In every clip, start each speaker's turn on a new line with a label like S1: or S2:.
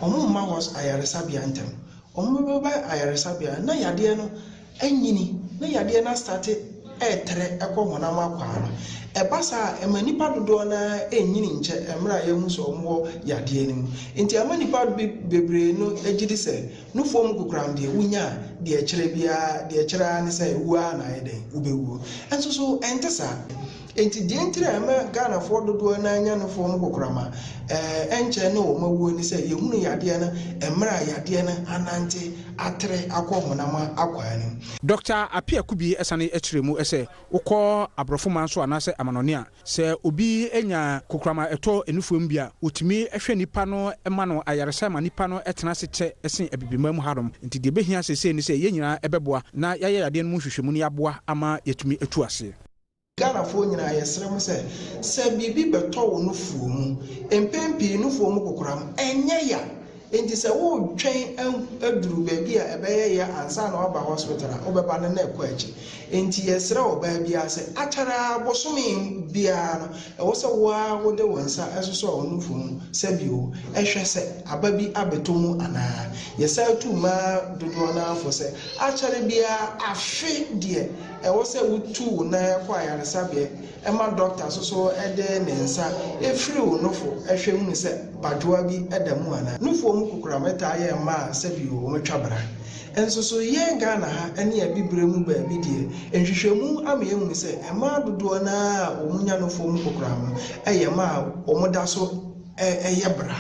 S1: Wɔmma wɔ ayaresabea ntɛm. Wɔbɛba ayaresabea no na yadeɛ no anyini na yadeɛ no astate retrɛ kɔ honam akwaa no. Ɛba saa a, ɛma nnipa dodoɔ no ara nnyini nkyɛ mmerɛ a yɛahu sɛ wɔwɔ yadeɛ no mu. Nti ama nnipa bebree no gye di sɛ nufoɔ mu kokoram deɛ wonya a, deɛ ɛkyerɛ biara, deɛ ɛkyerɛ ara ne sɛ wuo ara na ayɛ dɛn? Wobɛwuo. Nso so ɛnte saa. Enti deɛ nti na ɛma Ghanafoɔ dodoɔ no ara nya no fɔɔ mu kokorama ɛnkyɛn ne wɔn awuo ne sɛ yɛhunu yadeɛ no mmerɛ a yadeɛ no anante atere akɔ honam akwaa no mu. Dɔkta Appiah
S2: Kubi sane kyerɛɛ mu sɛ wokɔ aborɔfo man so anaasɛ amanɔne a, sɛ obi nya kokorama a ɛtɔ nufoɔ mu bi a, wɔtumi hwɛ nnipa no ma no ayaresa ma nnipa no tena ase kyɛ sen Abibiman mu hanom. Enti deɛ ɛbɛhia seesei ne sɛ yɛn nyinaa bɛboa na yɛayɛ yadeɛ no mu nhwehwɛmu na yɛaboa ama yɛatumi atu aseɛ. Ghanafoɔ
S1: nyinaa yɛsrɛ mo sɛ, sɛ biribi bɛtɔ wo nufoɔ mu, mpɛn pii nufoɔ mu kokoram nyɛ ya, nti sɛ woretwɛn aduru baabi a ɛbɛyɛ ya ansa na woaba hospital a, wobɛba no na ɛkɔ akyi. Nti yɛsrɛ ɔbaa biara sɛ, akyɛre ara bosome biara no, ɛwɔ sɛ wo ara wode wo nsa sosɔ wo nufoɔ mu sɛbio hwɛ sɛ aba bi abɛtɔ mu anaa. Yɛsan tu mmaa dodoɔ no ara fo sɛ, akyɛre biara afe deɛ, Ɛwɔ sɛ wotu wo nan kɔ ayaresabea ma dɔkta nso so de ne nsa firi wo nofo hwɛ hunu sɛ badwoa bi da mu anaa. Nufoɔ mu kokoram taa yɛ mma a sɛbi o wɔatwa bra. Nso so yɛn Ghana ha ne Abibirem mu baabi deɛ, nhwehwɛmu ama yɛahunu sɛ mmaa dodoɔ no ara a wɔnya nufoɔ mu kokoram no yɛ mmaa a wɔda so yɛ bra,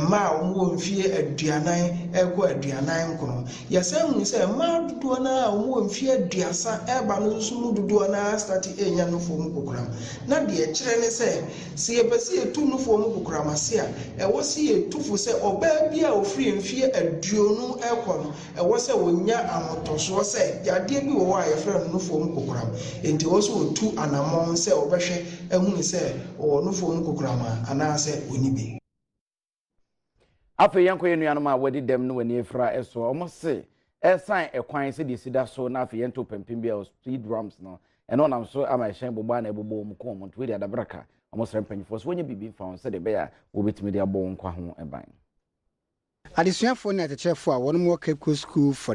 S1: mmaa a wɔwɔ mfeɛ aduanan rekɔ aduanan nkron. Yɛsan hu sɛ mmaa dodoɔ no ara a wɔwɔ mfeɛ aduasa reba no nso mu dodoɔ no ara starte renya nufoɔ mu kokoram. Na deɛ ɛkyerɛ ne sɛ, sɛ yɛpɛ sɛ yɛtu nufoɔ mu kokoram ase a, ɛwɔ sɛ yɛtu fo sɛ ɔbaa biara a ɔfiri mfeɛ aduonu rekɔ no, Ɛwɔ sɛ wɔnya ahotɔsoɔ sɛ yadeɛ bi wɔ hɔ a yɛfrɛ no nufoɔ mu kokoram, enti ɛwɔ sɛ wɔtu anammɔn sɛ wɔbɛhwɛ ahunu sɛ ɔwɔ nufoɔ mu kokoram a anaasɛ ɔnni bi.
S3: Afei yɛnkɔ yɛn nuanom a wɔadi dɛm ne wɔn ani afira so. Wɔn se ɛsan ɛkwan sɛdeɛ ɛsi da so na afei yɛntoo pampim biara wɔ speed drums no, ɛno ɔnam so ama ɛhyɛn bobɔ a na ɛbobɔ wɔn kum wɔn nti wei deɛ adabraka. Wɔsrɛ mpanyinfoɔ sɛ wɔnyɛ biribi mfa wɔn sɛdeɛ ɛbɛyɛ a wɔbɛtumi de abɔ wɔn nkwa ho
S4: ban. Adesuafoɔ
S3: ne
S4: akyɛkyerɛfoɔ a
S3: wɔnom
S4: wɔ Cape Coast
S3: School
S4: for.